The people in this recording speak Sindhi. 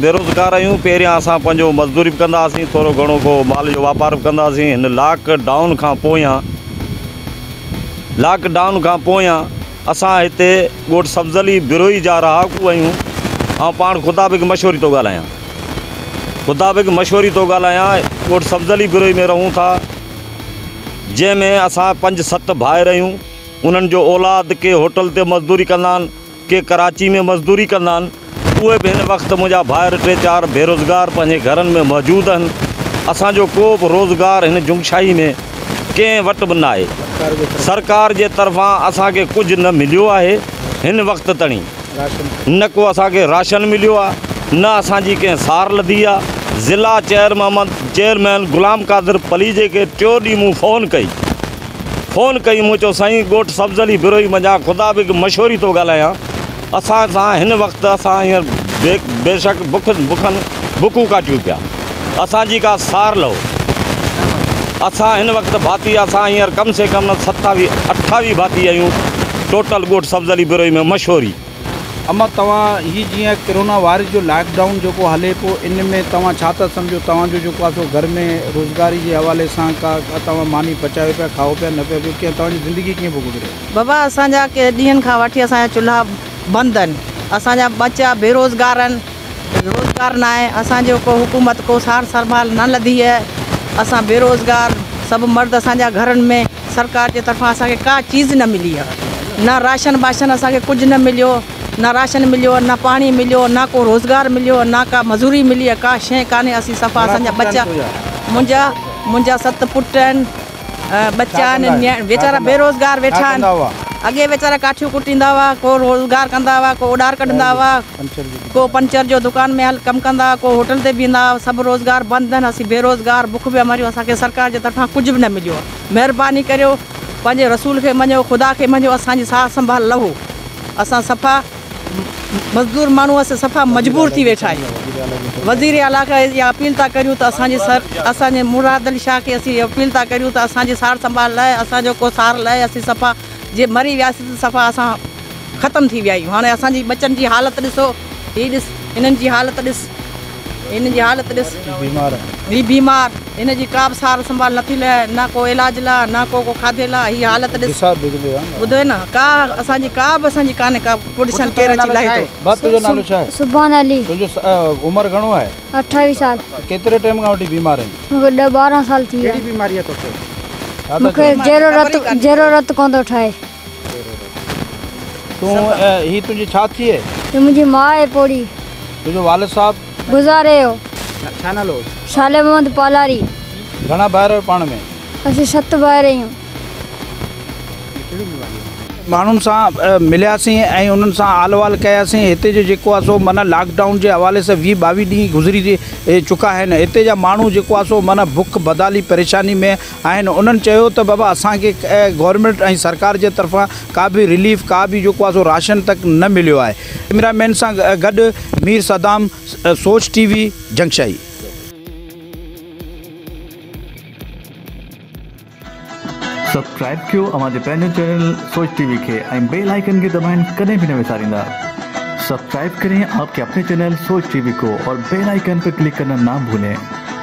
بيروزگار آهيون پهريان اسان پنهنجو مزدوري به ڪندا هئاسين ٿورو گهڻو ڪو مال جو واپار به ڪندا هئاسين هن لاڪ ڊائون کان پويان لاڪ ڊائون کان پويان اسان هتي ڳوٺ سبز علي بروهي جا رهاڪو آهيون آئون پاڻ خدا بيگ مشوري ٿو ڳالهايان خدا بيگ مشوري ٿو ڳالهايان ڳوٺ سبز علي بروهي ۾ رهون ٿا جنهن ۾ اسان پنج ست ڀائر آهيون انهن جو اولاد ڪي هوٽل تي مزدوري ڪندا آهن ڪي ڪراچي ۾ مزدوري ڪندا آهن، اهي به هن وقت منهنجا ڀائر ٽي چار بيروزگار پنهنجي گهرن ۾ موجود آهن، اسان جو ڪو به روزگار هن جنگشاهي ۾ ڪنهن وٽ به ناهي، سرڪار جي طرفان اسان کي ڪجهه نه مليو آهي، هن وقت تڻي نه ڪو اسان کي راشن مليو آهي، نه اسان جي ڪنهن سار لڌي آهي، ضلع چيئرمحمد چيئرمين غلام قادر پليجي کي ٽيون ڏينهن مون فون ڪئي. فون ڪئي، مون چيو سائين ڳوٺ سبز علي بروهي منجهان خدا به هڪ مشوري ٿو ڳالهايان، اسان سان هن وقت اسان هينئر بيشڪ بکن بکن بکون ڪاٽيون پيا، اسان جي ڪا سار لهو، اسان هن وقت ڀاتي اسان هينئر ڪم سي ڪم ستاويهه اٺاويهه ڀاتي آهيون، ٽوٽل ڳوٺ سبز علي بروهي ۾ مشوري. اما توهان هي جيئن ڪرونا وائرس جو لاڪ ڊائون جيڪو هلي پيو ان ۾ توهان ڇا ٿا سمجهو توهان جو جيڪو آ سو گهر ۾ روزگاري جي حوالي سان ڪا توهان ماني پچايو پيا کائو پيا نه پيا پيو ڪيئن توهان جي زندگي ڪيئن پيو گذري. بابا اسان جا ڪي ڏينهن کان وٺي اسان جا چلها بند ان اسان جا ٻچا بي روزگار ان روزگار ناهي اسان جو ڪو حڪومت ڪو سار سربال نه لڌي آهي اسان بي روزگار سڀ مرد اسان جا گهرن ۾ سرڪار جي طرفان اسان کي ڪا چيز نه ملي آ نه راشن باشن اسان کي ڪجھ نه مليو نه راشن مليو نه پاڻي مليو نه ڪو روزگار مليو نه ڪا مزوري ملي آ ڪا شئي ڪانھي اسين صفا اسان جا ٻچا منھنجا منھنجا ست پٽ آھن ٻچا آھن نياڻي ويچارا بي روزگار ويٺا آھن اڳي ويچارا ڪاٺيون ڪٽيندا ھئا ڪو روزگار ڪندا ھئا ڪو اوڏار ڪڍندا ھئا ڪو پنچر جو دڪان ۾ هل ڪم ڪندا ڪو هوٽل تي بيهندا سڀ روزگار بند آهن اسين بيروزگار بک پيا مريون اسان کي سرڪار جي طرفان ڪجهه به نه مليو آهي مهرباني ڪريو پنهنجي رسول کي مڃيو خدا کي مڃيو اسان جي سار سنڀال لهو اسان صفا مزدور ماڻهو اسين صفا مجبور ٿي ويٺا آهيون وزير اعليٰ کي اها اپيل ٿا ڪريون ته اسان جي سر اسان جي مراد علي شاهه کي اسين اها اپيل ٿا ڪريون ته اسان جي سار سنڀال لهي اسان جو ڪو سار لهي اسين صفا جي مري وياسين ته صفا اسان ختم ٿي ويا آهيون هاڻي اسان جي ٻچن جي حالت ڏسو هي ڏس هنن جي حالت ڏس هن جي حالت ڏس هي بيمار هن جي ڪا به سار سنڀال نٿي لهي نه ڪو علاج لا نه ڪو ڪو کاڌي لا هي حالت ڏس ٻڌوئي نه ڪا اسان جي ڪا به اسان جي ڪانهي ڪا پوٽيشن ڪير اچي لاهي ٿو بس تنهنجو نالو ڇا آهي سبحان علي تنهنجو عمر گهڻو آهي اٺاويهه سال ڪيتري ٽائيم کان وٺي بيمار آهين مون کي ڏهه ٻارهن سال ٿي ويا ڪهڙي بيماري آهي توکي مون کي جهرو رت جهرو رت ڪونه ٿو ٺهي تون هي تنهنجي ڇا ٿئي؟ هي منهنجي ماء آهي پوڙهي. تنهنجو والد صاحب؟ گذاري ويو. ڇا نالو هوس؟ صالح محمد پالاري. گهڻا ڀائر آهيو پاڻ ۾؟ اسين ست ڀائر آهيون. ماڻهن سان ملياسين ۽ انهن سان حال احوال ڪياسين. هتي جو جيڪو آهي سو معنيٰ لاڪ ڊائون جي حوالي سان ويهه ٻاويهه ڏينهن گذري چڪا آهن. هتي جا ماڻهو جيڪو آهي سو معنيٰ بک بدحالي پريشاني ۾. آهن انهن چيو ته بابا اسان کي گورنمينٽ ۽ سرڪار جي طرفان ڪا به رليف ڪا به جيڪو آهي سو راشن تڪ نه مليو آهي ڪئميرا مين سان گڏ Mir Saddam Soch T V Jungshahi. Subscribe ڪيو اوهان جي پنهنجي چينل سوچ ٽي وي کي ۽ بيل آئيڪن کي دٻائڻ ڪڏهن به نه وساريندا سبسڪرائب ڪرين آپ ڪي اپني چينل سوچ ٽي وي ڪو اور بيل آئيڪن پي ڪلڪ ڪرنا نا ڀولين.